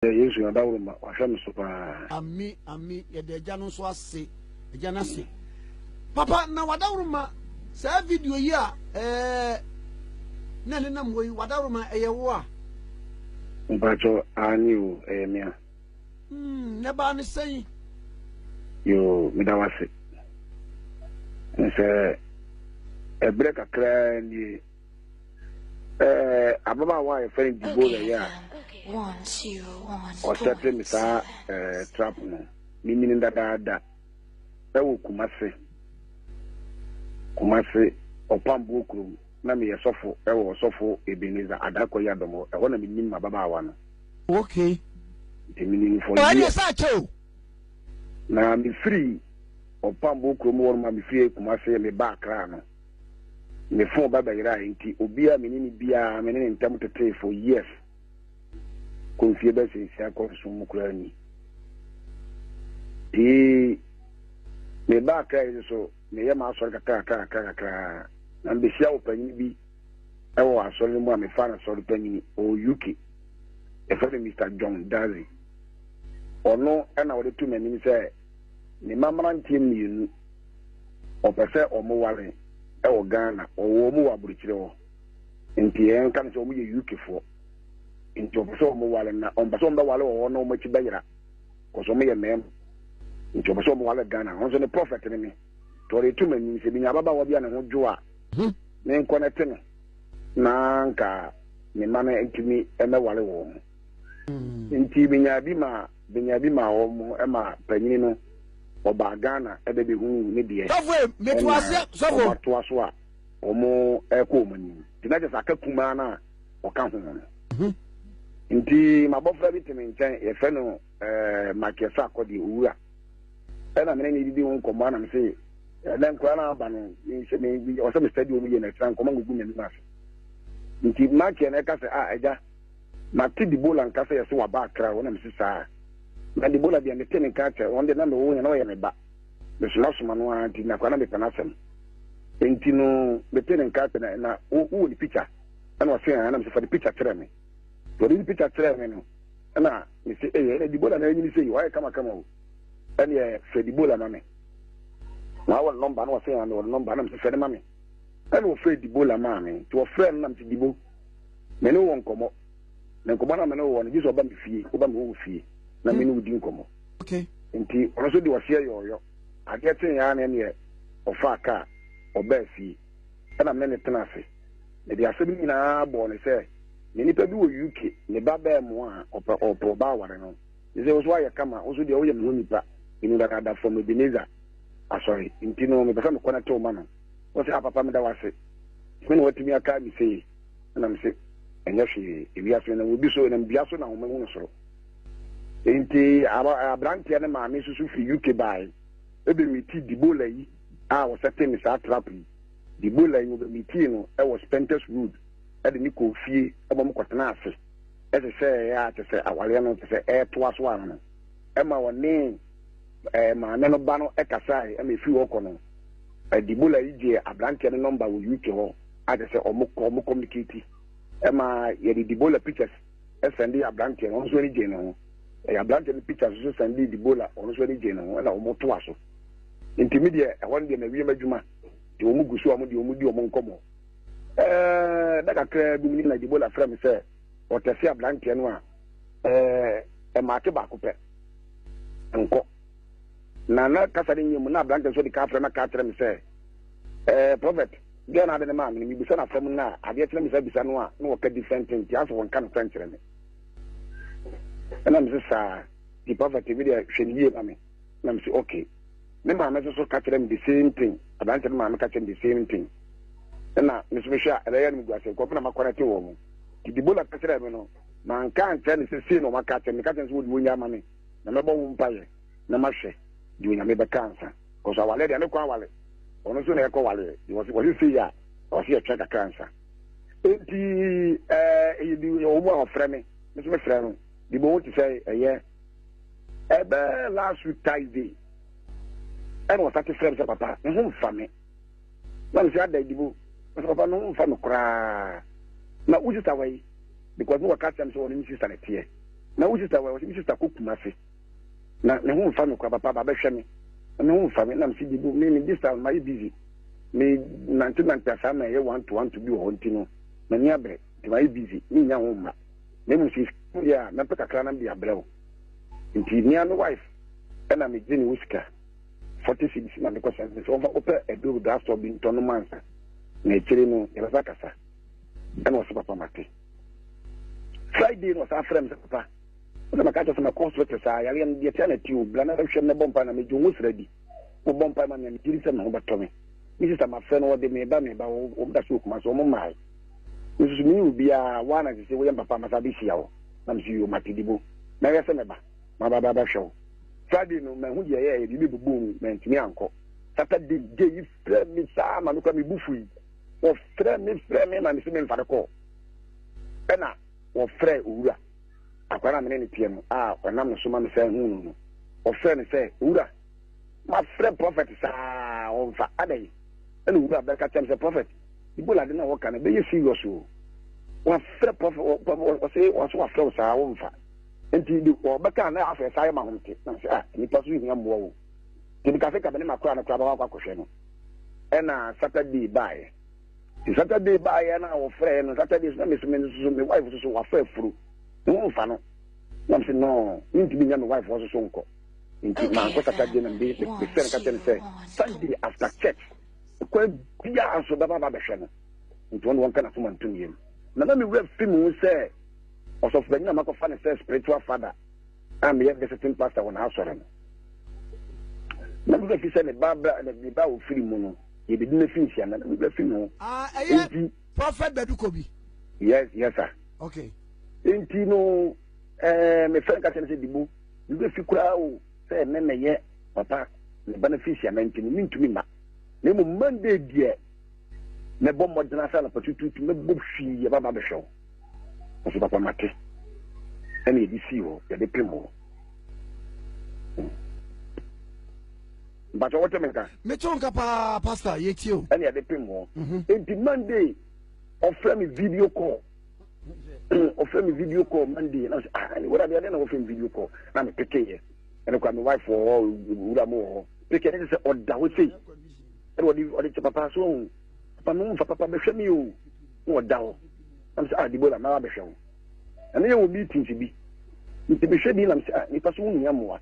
Yɛ Yesu adaworoma, wahwɛ me so paa. Ami ami yɛda agya no nso ase agya no ase papa na wadaworoma saa video yi a ɛɛ na ne nam wɔ yi wadaworoma ɛyɛ wo a. Mpatsɔ aane o ɛyɛ me a. Hmm ne baa ne sɛn. Yoo meda wase nsɛ ɛbrɛ kakraa nie. Eh, ababaawa a yɛfrɛ no Deborah yɛ a ɔsɛte me saa eh, trap no mimi no dadaada ɛwɔ Kumase Kumase ɔpamboɔ kurom na meyɛ sɔfo ɛwɔ ɔsɔfo Ebenezer Adakɔ yi adɔmɔ ɛhɔ na menim m'ababaawa no okay nti menim for years na mefiri ɔpamboɔ kurom hɔ no ma mefiri Kumase meba Accra no Me fon ba bɛyerae, enti obi a me ne no biara me ne ne ntam tetee for years kɔ mfie bɛsɛ nsia kɔ nson mu koraa ni. Ee, meba Accra yi nso meyɛ m'asɔre kakra kakra kakra kakra na mbehyia wɔ panyin bi ɛwɔ asɔre no mu a mefa no sɔre panyin ɔwɔ UK. Yɛfrɛ no Mr. John Dazi. Ɔno ɛna ɔde to m'anim sɛ ne ma mmeranteɛ mmienu wɔpɛ sɛ wɔn ware wɔ Ghana, wɔwɔ wɔn wɔ aburokyire hɔ, nti yɛn ka no sɛ wɔn yɛ UK foɔ, nti wɔpɛ sɛ wɔn ware na wɔn pɛ sɛ wɔn bɛ ware wɔ hɔ na wɔn akyi bɛyera, kɔsɛ wɔn yɛ mɛɛma, nti wɔpɛ sɛ wɔn ware Ghana, wɔn nso ne prɔfɛt ne me, nti wɔde to m'anim sɛ minya ababaawa bi a ne ho dwo a, me nkɔ na te no, na nka me mma no ntumi mɛ ware wɔn, nti minya bi ma. Benya bi maa wɔn ɛma panyini no ɔbaa Ghana ɛbɛbɛhuu ne deɛ ɛna wɔn atoa so a wɔn ɛkɔ wɔn anim nti na kyɛ sɛ aka kumaa no a ɔka ho no mhm. nti mabɔfra bi te me nkyɛn yɛfɛ no ɛɛ makiɛsa akɔdeɛ owura ɛna mene ne didi ho nkɔmmɔ anam se ɛnɛ nkora no aba no ɔsɛ me study wɔn yie na ɛtena nkɔmmɔ ngugu n'anim ase nti makiɛ no ɛka sɛ a ah, ɛgya Mate Debola nka sɛ yɛse waba Accra hɔ na mese saa. Na Debola deɛ mete ne nka akyɛ, ɔno deɛ na mewɔ hɔ nyina na ɔyɛ me ba. Mesoma soma no ara nti na koraa na mepɛ n'asɛm. Enti no mete ne nka akyɛ na na wo wowɔ ne picture? Ɛna ɔse haa na mese fa ne picture kyerɛ me. Nti ɔde ne picture kyerɛɛ me no ɛna mese eii ɛna Debola na anyini sei wayɛ kama kama o. Ɛneɛ frɛ Debola ma me. Na wowɔ ne number na ɔse haa mewɔ ne number na mese frɛ no ma me. Ɛna ɔfrɛɛ Debola maa me nti ɔfrɛɛ no na mese Debo. me ne wɔ nkɔmmɔ na nkɔmmɔ na me ne wɔ no gye sɛ ɔba me fie woba me wɔ fie na me ne wodi nkɔmmɔ nti ɔno nso de ɔseɛ yɔɔyɔ adeɛ kye yɛa ne neɛ ɔfaa kaa ɔbaa fie ɛna me ne tena ase mede asɛm nyinaa bɔɔ ne sɛ ne nipa bi wɔ uk ne ba bɛɛ mo a ɔpɛ ɔpɛ ɔba aware no ne sɛ wo so ayɛ kama wo so deɛ woyɛ me ho nipa ɛnu dadaada fam ebeneza asɔre nti no mepɛ sɛ mekɔ no tew ma no Ɔse, Ah papa meda wo ase, me na watumi akae me sei. Ɛna mese, Ɛnyɛ hwee, ewiase no na wobi so, ɛnam dua so na ahoma hunu soro. Enti abranteɛ no maame nso so firi UK bae, ɔbɛmitii Debola yi a ɔsɛte ne saa trap yi. Debola yi ɔbɛmitii no wɔ Spenters Road de ne kɔɔ fie ma ɔmo kɔtenaa ase hyehyɛeɛ a kyɛ sɛ awareɛ no kyɛ sɛ ɛretoa so ara no ɛma ɔne maame no ba no kasae ma ɛfiri hɔ kɔ no, Debola yi gyee aberanteɛ no nɔmba wɔ UK hɔ a kyerɛ sɛ ɔmo kɔ ɔmo communicate ma yɛde Debola pictures sɛnde aberanteɛ no ɔno nso ani gyee ne ho ɛyɛ aberanteɛ no pictures nso sɛnde Debola ɔno nso ani gyee ne ho ɛna ɔmo toa so nti me deɛ ɛhɔ no deɛ na wiem adwuma nti ɔmo gu so a ɔmo deɛ ɔmo di ɔmo nkɔmɔ ɛɛ da kakra bi mu na Debola frɛ me sɛ ɔtɛse aberanteɛ no a ɛɛ eh, ɛmaate baako pɛ nkɔ na na kasa no nyɛ mu na aberante nso de ka afrɛ na ka kyerɛ me sɛ ɛɛ eh, prɔfɛt deɛ na ade ne maa me no mebisa no asɛm no a adeɛ kyerɛ me sɛ bisa no a na wɔka different thing nti asɛ wɔnka no fɛn kyerɛ me ɛna me se saa nti prɔfɛt bi deɛ hwɛ no yie ma me na me se okay ne maame nso so ka kyerɛ me the same thing aberante no maame ka kyerɛ me the same thing ɛna me nso mehwɛ a ɛbɛyɛ no megu ase nkɔfo na makɔnɛte wɔ mu nti dibola ka kyerɛ me no Manka ankyerɛ no sɛ sei na wɔaka akyerɛ me. Meka kyerɛ no sɛ wɔde onya ama me na mɛbɔ ho mpaeɛ na mahwɛ deɛ Onyame bɛka ansa. Cause awaleɛ deɛ ne kwan awale. Ɔno nso na ɛkɔ waleɛ. Wɔse wɔse sei a ɔse yɛtwɛn kakra ansa. Enti eh, ɛyɛ bi wɔ mu a ɔfrɛ me. Me nso mefrɛ no. Bi bɔ ho te sɛ ɛyɛ ɛbɛ last week Thursday. Ɛna ɔsate frɛ me sɛ papa, me ho mfa me. na ɔsɛ ada adi mu ɔsɛ papa no mfa no koraa na wo sista wɔ yi because no wɔka kyerɛ no sɛ ɔne ne sista na ɛteɛ na wo sista wɔ yi ɔsɛ me sista kɔ kuma se na ne ho mfa me koraa papa ba bɛhwɛ me na ne ho mfa me nam si bi bu me ne this time mayɛ busy me nante nante asaa na ɛyɛ one to one to bi wɔ hɔ nti no m'ani abrɛ nti mayɛ busy ne nya ho mma na mmom sɛ yɛ a mɛpɛ kakra nam de abrɛ wo nti mmea no wife ɛna megye ne wo sika 40 cedis na mekɔ sɛnse sɛ wɔmfa wopɛ aduro bi drugstore bi ntɔ no mansa na akyire no yɛbɛsa kasa ɛna ɔsɛ papa mate friday na ɔsan frɛ me sɛ papa wosɛ maka kyɛ sɛ mɛkɔ hospital saa yareɛ no deɛ tia na ti o bla na hwɛ mɛbɔ mpa na medwo ho sra bi mobɔ mpa ma me a megyiri sɛ me ho bɛtɔ me me sista mafrɛ no wɔde meba meba wɔda so okuma so ɔmo mmae nsusu mene obiara woana sɛ sɛ woyɛ mpapa masa bɛhyia wo na mesɛ yɛ ɔmatedibo na yɛ sɛ mɛba maba bɛbɛhwɛ wo. Friday no mahu deɛ ɛyɛɛ yɛde ne bobɔɔ mu mantumi ankɔ. Saturday gye yi frɛɛ me saa ma me kora me bu fui. Wɔfrɛɛ me frɛɛ me ma mese memfa no kɔɔ. Ɛna wɔfrɛɛ owura akwa no a me ne no teɛ no a ɔnam no so ma me san huu no no. Wɔfrɛɛ no sɛ owura mafrɛ prɔfɛt saa ɔmfa adɛn ɛna owura bɛka kyɛm sɛ prɔfɛt Ebola de na wɔka no bɛyɛ serious o. Wɔafrɛ prɔfɛt wɔse wɔso wɔafrɛ wo saa ɔmfa. Nti de kɔ bɛka na afɛ saa yɛ ma hom te. Na sɛ ah nipa so hia mmoa o. Nti meka sɛ ka me ne makora no koraa bɛkɔ akɔ akɔhwɛ no. Ɛna Saturday baeɛ. Nti Saturday baeɛ na wɔfrɛɛ no Saturday so na me so me nso so me wife nso so wafa afuru. Ne ho mfa no. Na me se no mentumi nya me wife hɔ nso so nkɔ. Nti mankɔ Saturday na mede mefrɛ no ka kyerɛ no sɛ Sunday after church kwan biara nso bɛba aba abɛhwɛ no. Nti ɔno wɔnka n'asom antom yam. Na na me werɛ fi me ho sɛ ɔsɔfopanyin a makɔfa no sɛ spiritual father a meyɛ visiting pastor wɔ n'asɔre no. Na me fi sɛ ne ba bra na ne ba ofiri mu no yɛbɛdi no finhyia na ne bra fi no. Ah, ɛyɛ prophet Bɛdukɔ bi. Yes, yes sir. Okay. Nti no ɛɛ eh, me fɛn ka kyɛn sɛ dibo ne bɛ fi koraa o sɛ ɛnɛ na yɛ papa ne ba no finhyia na nti no ne ntumi ma na emu Monday deɛ mɛbɔ mmɔden asa na patututu mɛbɔ hwii yɛ baba bɛhwɛ o. Ɔsɛ papa mate. Ɛna yɛde sii hɔ, yɛde pem hɔ. Mpatsɔ wɔte me nka. Mete wo nka paa pastor yɛtie o. Ɛna yɛde pem hɔ. Mhm. Enti Monday ɔfrɛ me video call. Ɔfrɛ me video call Monday. Na ɔsɛ ah ɛna wɔde adeɛ na wɔfrɛ me video call. Na me peke yɛ. Ɛna kwa me wife wɔ hɔ, wura mo wɔ hɔ. Peke ɛna sɛ ɔda hɔ sei. Ɛna ɔde ɔde kyɛ papa so ohun. papa me womfa papa bɛhwɛ me o na ɔda hɔ na mesɛ ah Debora mara bɛhwɛ wo na ne yɛ wɔ meetings bi nti mehwɛ bi na mesɛ ah nipa so wohia mmoa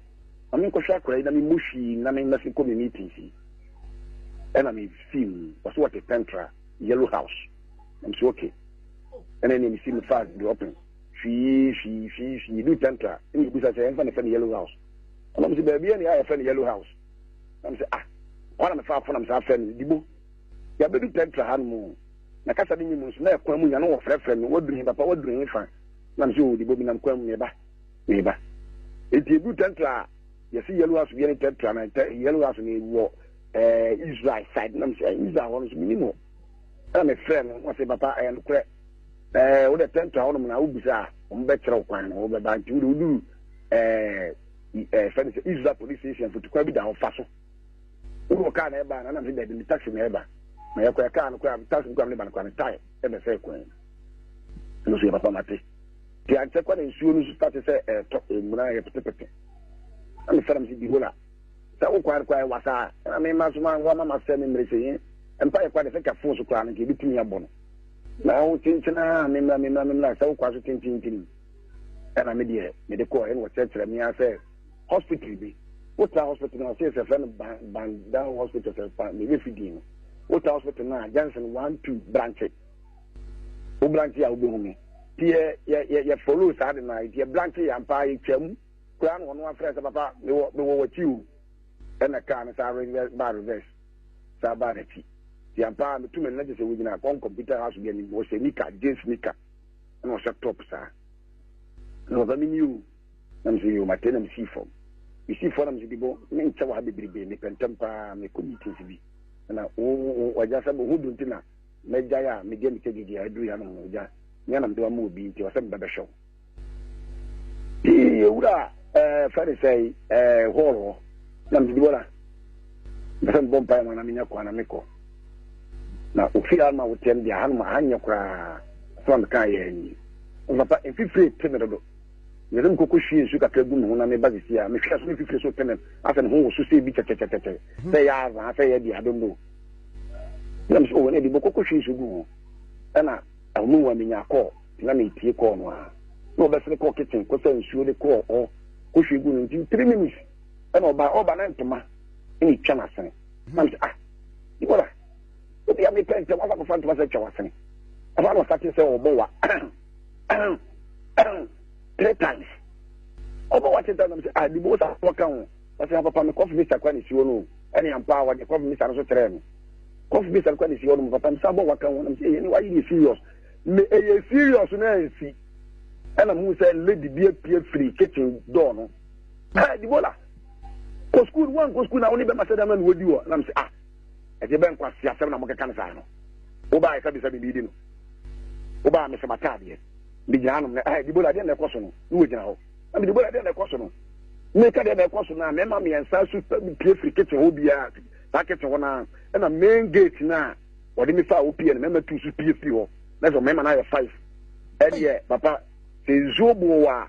ma menkɔhwɛ akora yi na memmɔ hwii na memma se kɔ me meetings yi ɛna mefii mu ɔsɛ wɔte pɛntra yellow house na mesɛ okay ɛna ɛne mesi mefaa dropping hwii hwii hwii hwii du pɛntra ɛne ɛbusa sɛ ɛmfa ne fɛ ne yellow house ɛna mesɛ baabi ɛne a yɛfɛ ne yellow house nam sɛ ah hɔ na mefa afo nam saa frɛ no dibo yɛbɛdu tɛntra ha no mu na kasa no nyi mu nso na ɛkwan mu nyane wɔfrɛfrɛ me waduru he papa waduru he fa nam sɛ ɔdibo bi nam kwan mu meba meba ɛti ɛdu tɛntra a yɛse yellow house biɛ ne tɛntra na yellow house no ɛwɔ eh, israel side nam sɛ eh, israel hɔ no so menim hɔ ɛna mefrɛ no wɔse papa ɛyɛ nokorɛ wode tɛntra hɔ nom na wobisa a wɔbɛkyerɛ wo kwan na wobɛba nti wode woduru yɛfrɛ no sɛ israel police station fotukwan bi da hɔ fa so wowɔ kaa na ɛba na nam sɛ daabi ne taxi na ɛba na yɛkɔɛ kaa no koraa taxi no koraa ne ba no koraa ne tae ɛna sɛ kwan ɛno so yɛ papa mate nti ankyɛ kwa na nsuo no so tate sɛ ɛtɔ mmuna yɛ petepete na mefrɛ m sɛ bihola sɛ wo kwan koraa ɛwa saa ɛna mema so ma wama ma sɛ me mmerɛ sɛ yɛ mpa yɛ kwa de sɛ ka fon so koraa no nka ɛbɛtumi abɔ no na wo kyenkyena memra memra memra sɛ wo kwa so tintintim Ɛna me deɛ me de kɔɔ ɛna ɔkyerɛkyerɛ me ara sɛ hospital bi wotaa hospital no ɔsɛ sɛ fɛ no Bandao hospital sɛ pa me bɛ fi din no wotaa hospital no a Johnson one two branche wo branche a wobɛhu me ti yɛ yɛ yɛ follow saa de na ti yɛ branche yɛ ampa yɛ twam koraa na wɔn afrɛ sɛ papa mewɔ mewɔ wɔkyi o ɛna kaa no saa reverse ba reverse saa ba n'akyi ti ampa metu me nna gye sɛ wogyina kɔn computer house bi anim wɔhyɛ nika jeans nika ɛna ɔhyɛ top saa na papa mi ni o na mesɛ yo mate na mesii fam mesii fam na mesɛ dibɔ me nkyɛ wɔ ha bebrebe mepɛ ntɛm paa mekɔ meetings bi na wagya sɛ ho do nti na mɛgyae a medeɛ mekyɛ gyegye a ɛduru yɛ anom no wagya nyɛ na mede wama obi nti ɔsɛ mebɛbɛhwɛ wo yɛwura fɛ ne sɛ hɔɔl hɔ na mesɛ dibɔ na mepɛ sɛ mebɔ mpae ma na menya kwan na mekɔ Na ofie a ma woteɛ no deɛ ahanom aha nyɛ koraa asɛm a mekaa yɛ ni. Ɔsɛ papa mfifire te me dodo. Mepɛ sɛ mekɔ kɔhwie nsu kakra gu me ho na meba sisi a mehwɛ so mfifire so te me asɛ me ho wɔ so sɛ bi kyɛkyɛkyɛkyɛ sɛ yɛ azaa sɛ yɛ deɛ adondo. Na mesɛ ɔwɔ no ɛdi bɔkɔ kɔhwie nsu gu ho. Ɛna ahomu wa menya kɔɔ na metie kɔɔ no a na ɔbɛsene kɔɔ kitchen kɔsa nsuo de kɔɔ hɔ kɔhwie gu no nti three minutes ɛna ɔba ɔba na ntoma ɛna ɛtwa n'asene. Mante ah Nicola obi a mi pɛ ntɛm afa kɔfa ntoma sɛ twɛ wasene ɛfa na ɔsate sɛ ɔbɔ wa three times ɔbɔ wa three times sɛ ah dibo wo sa wɔka ho ɔsɛ apapa mi kɔfi mi sakwa ne si hɔ no ɛne ampa a wɔde kɔfi mi sa no so kyerɛ no kɔfi mi sakwa ne si hɔ no papa mi sa bɔ waka ho nam sɛ ɛyɛ ne wa yi ne serious me ɛyɛ serious na ɛnsi ɛna mu sɛ lady bi apue firi kitchen door no ah dibo la. kɔ sukuu no wankɔ sukuu na wo ne bɛma sɛ dɛm na na wɔdi wɔ nam sɛ ah ɛdeɛ bɛ nkwasi asɛm na mokeka no saa no wobaa ɛsɛ bisɛ biribi di no wobaa mesɛ mataadeɛ megyina anom no ah dibola deɛ na ɛkɔ so no ne wɔgyina hɔ na me dibola deɛ na ɛkɔ so no meka deɛ na ɛkɔ so no a mɛma mmiɛnsa so pie firi kitchen hɔ biara saa kitchen hɔ no a ɛna main gate no a wɔde me fa a wopie no mɛma tu so pie firi hɔ na sɛ mɛma no ayɛ five ɛdeɛ papa sɛ nsuo boo wɔ a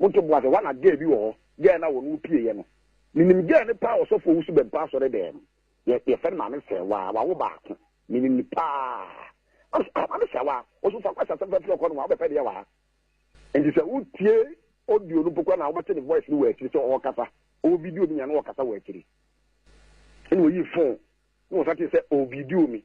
Monto boa sɛ woa na girl bi wɔ hɔ girl no a wɔne wo pieeɛ no menim girl no paa ɔsɔfoɔ wusu bɛn paa asɔre dɛɛm yɛ yɛfɛ no maame sɛwaa wawo baako menim no paa ɔso ah maame sɛwaa ɔso fa kwasa sɛmfa firi ɔkɔ no wa wobɛpɛ deɛ waa nti sɛ wotie audio no mpo kora na wobɛte ne voice no wɔ akyiri sɛ ɔkasa ɔwɔ video no nyina na ɔkasa wɔ akyiri ɛna ɔyi phone na ɔsa te sɛ ɔwɔ video me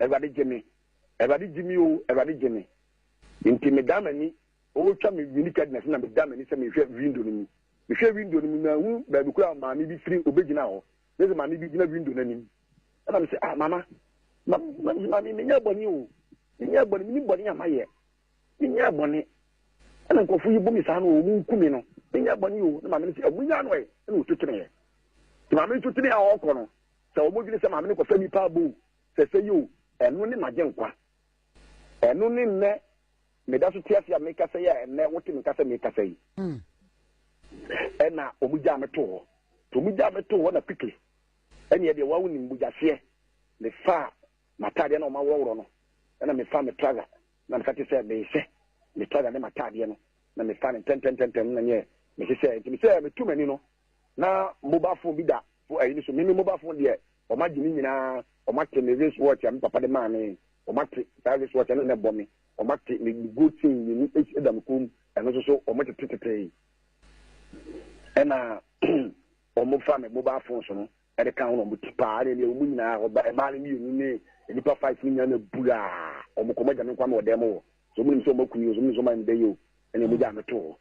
Awurade gye me, Awurade gye me o, Awurade gye me. Enti medan m'ani, ɔretwa me winikɛdnɛs na medan m'ani sɛ mehwɛ windo no mu. Mehwɛɛ windo no mu, manhu baabi koraa a maame bi firi ɔbɛgyina hɔ. Mese maame bi gyina windo no anim. Ɛna mese, ah, mama, ma, ma, maame, menyɛɛ bɔne o. Menyɛɛ bɔne, menim bɔne a mayɛ. Menyɛɛ bɔne. Ɛna nkurɔfo yi bu me saa no, wɔn nku me no. Menyɛɛ bɔne o. Na maame no se, ɔmo nyaa no ɛ. Ɛna ɔtu teneeɛ. Nti maame no tu teneeɛ a ɔrekɔ no, Sɛ wɔn dwene sɛ maame no kɔfɛ nipa abo o, sɛsɛ yi o, ɛno ne magye nkwa. Ɛno ne nnɛ meda so te ase a mekasa yi a ɛnnɛ wote me nka sɛ mekasa yi. Hmm. Ɛna wɔn gyaa me to hɔ. To wɔn gyaa me to hɔ na quickly. Ɛneɛ deɛ wɔn awonim bogyaseɛ. Mefa m'ataadeɛ na wɔn aworɔworɔ no. Ɛna mefa me trouser na meka te sɛ mehyɛ me trouser ne m'ataadeɛ no na mefa no ntɛntɛntɛntɛm na nyɛ mehyɛ sɛ nti mesɛ metu m'ani no na mobile phone bi da fo ayi no so meme mobile phone deɛ wɔn agye ne nyinaa wɔn ate me race watch a me papa de maa me wɔn ate saa race watch ɛna na ɛbɔ me wɔn ate me gold chain mmienu esi ɛda me kɔn mu ɛno nso so wɔn tete tete yi ɛna wɔn fa me mobile phone so no ɛde ka ho na wɔn ti paa ɛna ɛna wɔn nyinaa ɔba ɛmaa no mmienu ne nipa five ne nyinaa na buraa wɔn kɔn mu agya me nkwa mi wɔ dɛm wɔ so wɔn nim sɛ wɔn akuni o so wɔn nim sɛ wɔn ayɛ me dɛ yi o ɛna wɔn gya me to hɔ.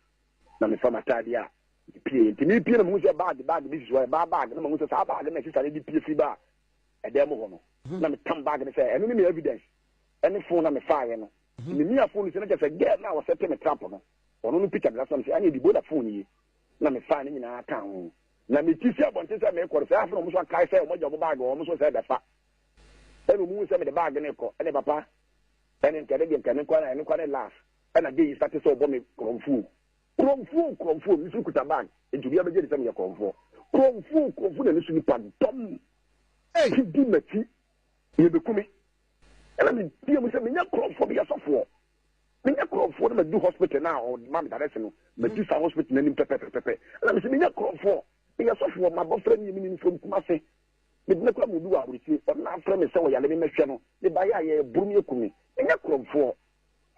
na mefa m'atadeɛ a mepie nti mepie na mehu sɛ baage baage bi sisi hɔ ɛbaa baage na mehu sɛ saa baage na sisa no de pie firi baa ɛdan mu hɔ no na metam baage no sɛ ɛno ne me evidence ɛne fon na mefaeɛ no ne mia fon no sɛ na kyɛ sɛ gɛɛ na wɔsɛ te me trap no ɔno no picture mena so na mesɛ ɛne ɛdibo na fon yi na mefae no nyinaa ka ho na meti si abɔnten sɛ meekɔre sɛ afei na ɔmo so akae sɛ ɔmo agya ɔmo baage ɔmo so sɛ ɛbɛfa ɛna ɔmo hu sɛ mede baage no kɔ ɛne papa ɛne nkɛne deɛ nkɛne nkɔ na ɛne nkɔ ne last Ɛna gay yi starte sɛ ɔbɔ me korɔmfoo Korɔmfoo korɔmfoo Me nso mekuta bag Nti obiara bɛgye adi sɛ meyɛ korɔmfoɔ Korɔmfoo korɔmfoo na ne so nipa dɔm Ti di m'akyi Yɛbɛku me Ɛna meteɛ mu sɛ menyɛ korɔmfoɔ Meyɛ sɔfoɔ Menyɛ korɔmfoɔ Na madu hospital no a ɔma me direct no Madu saa hospital no anim pɛpɛpɛpɛ Ɛna mesɛ menyɛ korɔmfoɔ Meyɛ sɔfoɔ M'abɔfra nie menim from Kumasi Medina kura mu obi wɔ aburokyire Ɔno na afrɛ me sɛ ɔyare me mɛhwɛ no Mebaeɛ a yɛboro me aku me Menyɛ korɔmfoɔ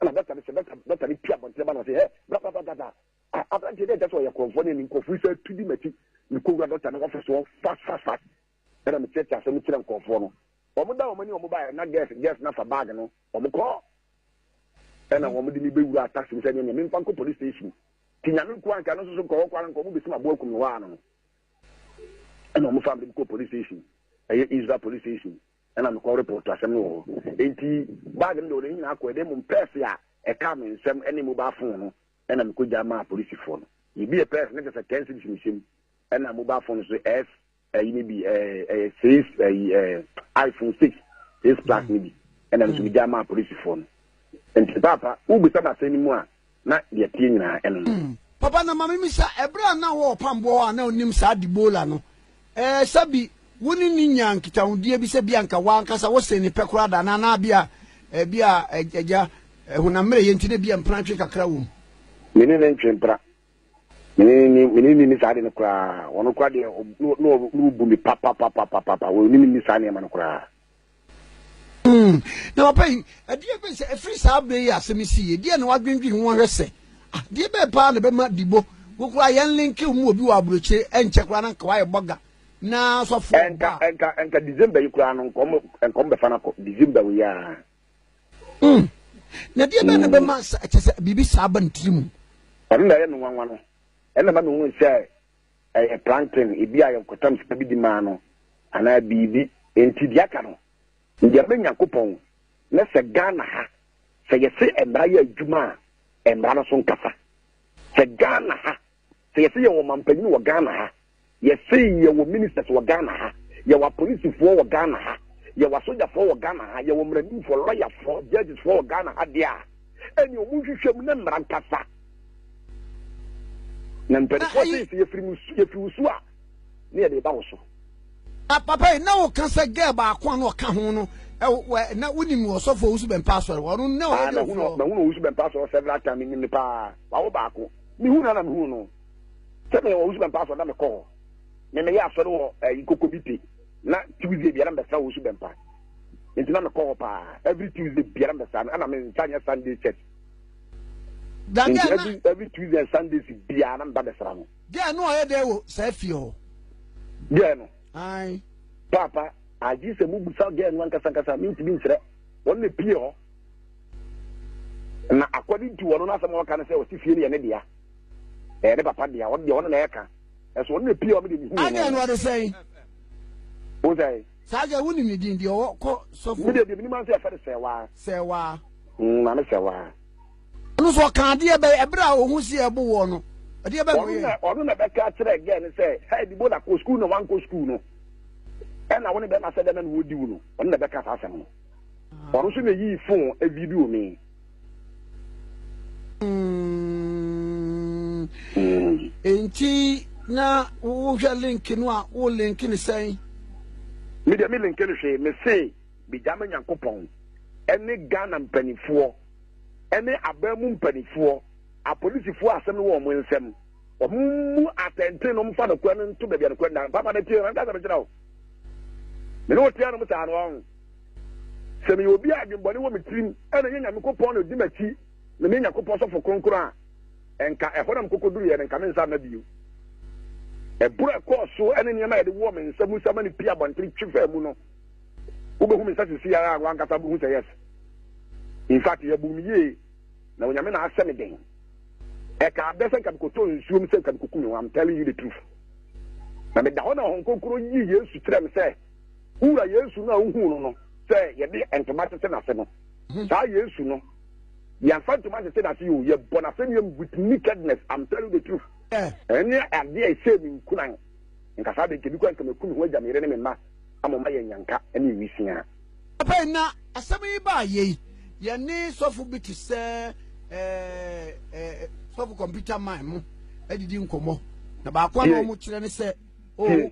ɛna dɔkta no sɛ dɔkta dɔkta no pia abɔnten ba na ɔsɛ hɛ bla bla bla bla bla a aberanteɛ dɛ ɛkyɛ sɛ ɔyɛ korɔmfoɔ ne ne nkurɔfoɔ yi sɛ atu di m'akyi mekɔwura dɔkta no ɔfɛ soɔ fast fast fast ɛna mekyerɛkyerɛ asɛm no kyerɛ nkurɔfoɔ no wɔn da wɔn ani wɔn baeɛ na gɛs gɛs no afa baage no wɔn kɔ ɛna mhm. wɔn de me bɛwura taxi mu sɛ neɛ memfa nkɔ police station ti nyame nko anka no soso nkɔwɔ kɔ ara nkɔ wɔn bɛsi m'aboa kum no hɔ ano no ɛna wɔn fa me kɔ police station ɛyɛ israel police station Ɛna mekɔ report asɛm no wɔ hɔ. Enti bag no deɛ ɔde ne nyinaa kɔɛ, na mmom purse a ɛkaa me nsam ne mobile phone no na mekɔgya maa polisifoɔ no. Mebuee purse no na kyerɛ sɛ ten cedis na ɛhyɛ mu, ɛna mobile phone nso S ayi no bi, ɛyɛ six ayi iPhone six six plus no bi, ɛna ɛno nso megya maa polisifoɔ no. Nti paapa, wobisa me asɛm no mu a, na deɛ ɛteɛ nyinaa ɛno no. Mm, papa na mame misa, ɛberɛ a na wɔ ɔpamboɔ hɔ a na ɔnim saa Debola no, ɛɛ sɛbi wo ne ne nyaa nkitahodie bi sɛ bi anka wankasa wo sene pɛ koraa da anaa na bi a ɛbi a agya honam mmerɛ yɛ nti na bi a mpena twe kakra wɔ mu? Mene ne ntwe mpena. Mene ne ni saa de no koraa. Wɔno koraa deɛ na wɔbu me papapapapapa. Wɔnim ni saa nneɛma no koraa. Hmm. Na papa yi, ɛdeɛ bɛn sɛ ɛfiri saa berɛ yi asɛm si yɛ, deɛ na wadwendwen ho ahwɛ sɛ, ah, deɛ bɛn paa na bɛma dibo, wokura yɛn linke mu obi wɔ aburokyire, ɛnkyɛ koraa na nka wayɛ bɔga, na sɔfo ɔba. Ɛnka, ɛnka, ɛnka December yi koraa no, nkɔm, nkɔm bɛfa no akɔ, December yi aa. Hmm. Na deɛ bɛn na hmm. bɛma sɛ, ɛkyɛ sɛ, biribi saa ba ne tiri mu. Ɔno na ɛyɛ me nwanwa no, ɛna ma mehunu sɛ, Ɛyɛ plankton, ebia ɛyɛ ɔkotam sika bi de maa no, anaa biribi. Enti deɛ aka no, yɛ ma Nyankopɔn, na sɛ Ghana ha, sɛ yɛse mmara yɛ adwuma a, mmara no so nkasa. Sɛ Ghana ha, sɛ yɛse yɛwɔ ɔmampanyin wɔ Ghana ha, yɛse yɛwɔ ministers wɔ Ghana ha, yɛwɔ apolisifoɔ wɔ Ghana ha, yɛwɔ asogyafoɔ wɔ Ghana ha, yɛwɔ mmaranimfoɔ, lɔyafoɔ, judgesfoɔ wɔ Ghana ha deɛ a, ɛneɛ wɔn nhwehwɛ mu na mmara nkasa. na mpanimfoɔ se sɛ yɛfiri mu yɛfiri wo su a ne yɛde ba wo so papa yi na woka sɛ gɛɛ baako a na ɔka ho no na wonim ɔsɔfo owusu bɛmpa asɔre hɔ ɔno na ɔyɛ dɛ fɔ mahunu owusu bɛmpa asɔre several time menim ne paa wawo baako mehu na na mehu no sɛ meyɛ owusu bɛmpa asɔre na mekɔ hɔ me meyɛ asɔre wɔ ɛyi koko bi te na tuesday biara mbɛsra owusu bɛmpa nti na mekɔ hɔ paa every tuesday biara mbɛsra no ɛna me nsa nyɛ sunday church Nti every every Tuesday and Sundays biara na mba bɛsra no. Girl no ɔyɛ dɛ wɔ saa fie hɔ. Girl no. Ayi. Paapa agye sɛ mo busa girl no ankasa ankasa mi ntumi nsrɛ wɔn na pie hɔ na according to wɔn n'asɛm a wɔka no sɛ ɔsi fie no yɛ ne dea ɛyɛ ne papa dea wɔn deɛ wɔn na ɛka ɛso wɔn na pie hɔ mi de mi hu wɔn. Agye no ɔde sɛn. O sɛ. Saa deɛ wonim ne din. Deɛ ɔwɔ kɔ sɔfo. Me deɛ deɛ menim ara nso yɛfrɛ no Sɛɛwaa. Sɛɛwaa. Mm, Maame Sɛɛwaa. Ɔno nso ɔka adeɛ bɛyɛ ɛberɛ a ɔhu si ɛbo wɔ no. Ɛdeɛ bɛn na ɔyɛ? Ɔno na ɔno na bɛka kyerɛ gɛɛ no sɛ hɛɛ dibo na kɔ sukuu na wankɔ sukuu no. Ɛna wo ne bɛma sɛ dɛn na na wɔdi wo no. Ɔno na bɛka saa asɛm no. Ɔno nso na yii fon avi bi wɔ me. nti na wohwɛ link no a wo link no sɛn medeɛ me link no hwee mese megya ma nyankopɔn ɛne ghana mpanimfoɔ ɛne aban mu mpanimfoɔ apolisifoɔ a asɛm no wɔ wɔn nsam wɔn mu atɛnten no mfa nokorɛ no nto baabi a nokorɛ no da papa no tie no ankasa mekyerɛ wo mene wo tea no mu saa no ɔho Sɛ meyɛ obi a adwembɔne wɔ me tirim na ɛnyɛ Nyamekopɔn na odi m'akyi na meyɛ Nyakopɔn sɔfo kronkron a, ɛnka ɛhɔ na mekɔkɔduruiɛ no, nka me nsa mma bio. Ɛboro a ɛkɔɔ so ne nneɛma a yɛde wɔ me nsa mu sa ma no pie abɔntene twi faa mu no, wobɛhu me nsa sisi ara a w'ankasa wobɛhu sɛ yes. In fact, yɛbuu me yie na Onyame na asɛ me den. Ɛka abɛ sɛ nka mekɔtɔ nsuo mu sɛ nka mekɔku me ho, I'm telling you the truth. Na meda hɔ na Honhom Kronkron yii Yesu kyerɛɛ me sɛ, Wo Wura Yesu no a wohuu no no sɛ yɛde ntoma tete n'ase no, hmm. saa Yesu no, yɛmfa ntoma tete n'ase yi o, yɛbɔ n'asɛnnuam with nakedness, I'm telling the truth. Eh. Ɛne adeɛ a ɛsɛ mi nkuran, nka saa de nkebi kɔ nkama ku me ho agya me yere ne me mma, ama ɔma yɛ nyanka ne ewisia. Papa yi na asɛm yi baa yɛ yi, yɛne sɔfo bi te sɛ ɛɛ eh, ɛɛ eh, sɔfo kɔmputa man mu adidi nkɔmɔ, na baako a wɔn kyerɛ ne sɛ, oh.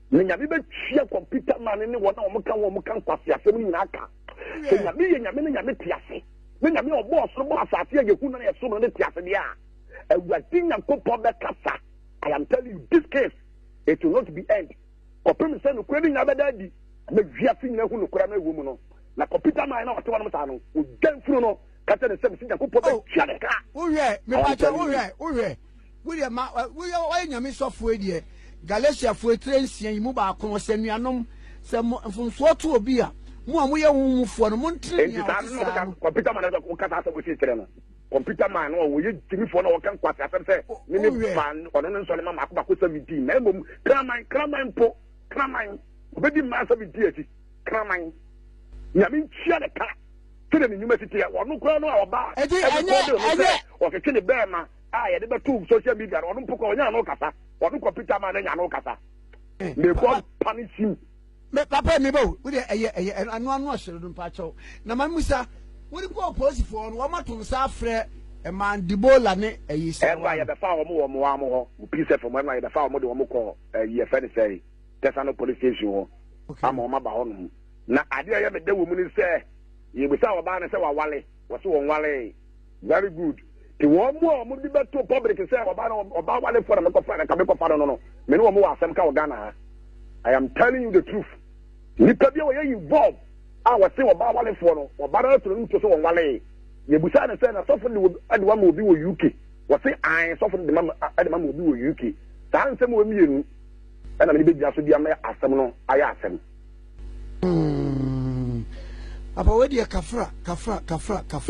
Na Nyame bɛtua kɔmputa man ne wɔn a wɔka ho a wɔka nkwaseasɛm no nyinaa ka. Sɛ Nyame yɛ Nyame na Nyame te ase, na Nyame a ɔbɔɔ soro bɔɔ asase a yɛhu no na yɛsom no no te ase deɛ a, Awurade Nyankopɔn bɛkasa. I am telling you, this case, it will not be end. Kɔpem sɛ nokorɛ no nyinaa bɛda adi, na wiase nyinaa hu nokorɛ no ɛwɔ mu no. Na kɔmputa man na ɔte wɔnom saa no, ɔgya mfunu no, ka kyerɛ ne sɛ mese Nyankopɔn bɛtua ne ka. Wohwɛ, mepatwa wohwɛ, wohwɛ. Wodeɛ ma woyɛ woayɛ nyame sɔfoɔ deɛ Galatiafoɔ etire nsia yi mu baako no sɛ nuanom sɛ mo mfomsoɔ to obi a mo a moyɛ honhom mufoɔ no montene nea ɔte saa no. Computer man ɛsɛ ɔka saa asɛm ɔsi kyerɛ no computer man no ɔyɛ gyimifoɔ na ɔka nkwasi asɛm sɛ ne ne ba ɔno ne nsɔre ma mako mako sɛ medi na mmom kraman kraman mpo kraman ɔbɛdi mmaa sɛ medi akyi kraman nyame ntua ne ka. sɛdeɛ ne nnwuma si teɛ. Ɔno koraa no a ɔbaa ɛbepɔ de no sɛ ɔtwetwe ne bɛɛma a yɛde bɛto social media no, ɔno mpo kɔ ɔnya ano kasa. Ɔno kɔ Peter ma no nya ano kasa. Eh, May God punish you. Me papa mi bo, wo de ɛyɛ ɛyɛ ano ano ɔhyerɛ no mpa kyɛw. Na ma musa, wo de kɔ polisifoɔ no, wɔn ato nsa afrɛ ɛmaa Debola ne ɛyi sɛ. Ɛnu a yɛbɛfa wɔn wɔ mmoa mo hɔ, mo pii sɛ fam, ɛnu a yɛbɛfa wɔn de wɔn kɔ ɛyi eh, ɛfɛ ne sɛ, tɛsa no polisi station hɔ, ama wɔn aba hɔ nom. Na ade a ɛyɛ me dɛ wɔ mu ne sɛ, yɛbisaa ɔbaa no sɛ waware, ɔse ɔnwaree. Very good. Te wɔn mu a wɔde bɛto public sɛ ɔbaa no, ɔbaa warefoɔ na mekɔfa no, anka mekɔfa no no no, me ne wɔn wɔ asɛm ka wɔ Ghana ha. I am telling you the truth. Nipa bi a ɔyɛ involve a ɔse ɔbaa warefoɔ no, ɔbaa no ara to n'ani to sɛ ɔnwaree. Yɛbisaa no sɛ, na sɔfo no de wo ama obi wɔ UK? Ɔse ae, sɔfo no de ma de ma obi wɔ UK. Saa nsɛm wɔ mmienu na me de bɛgyina so de ama asɛm no ayɛ asɛm. Papa wei deɛ kafra kafra kafra kafra.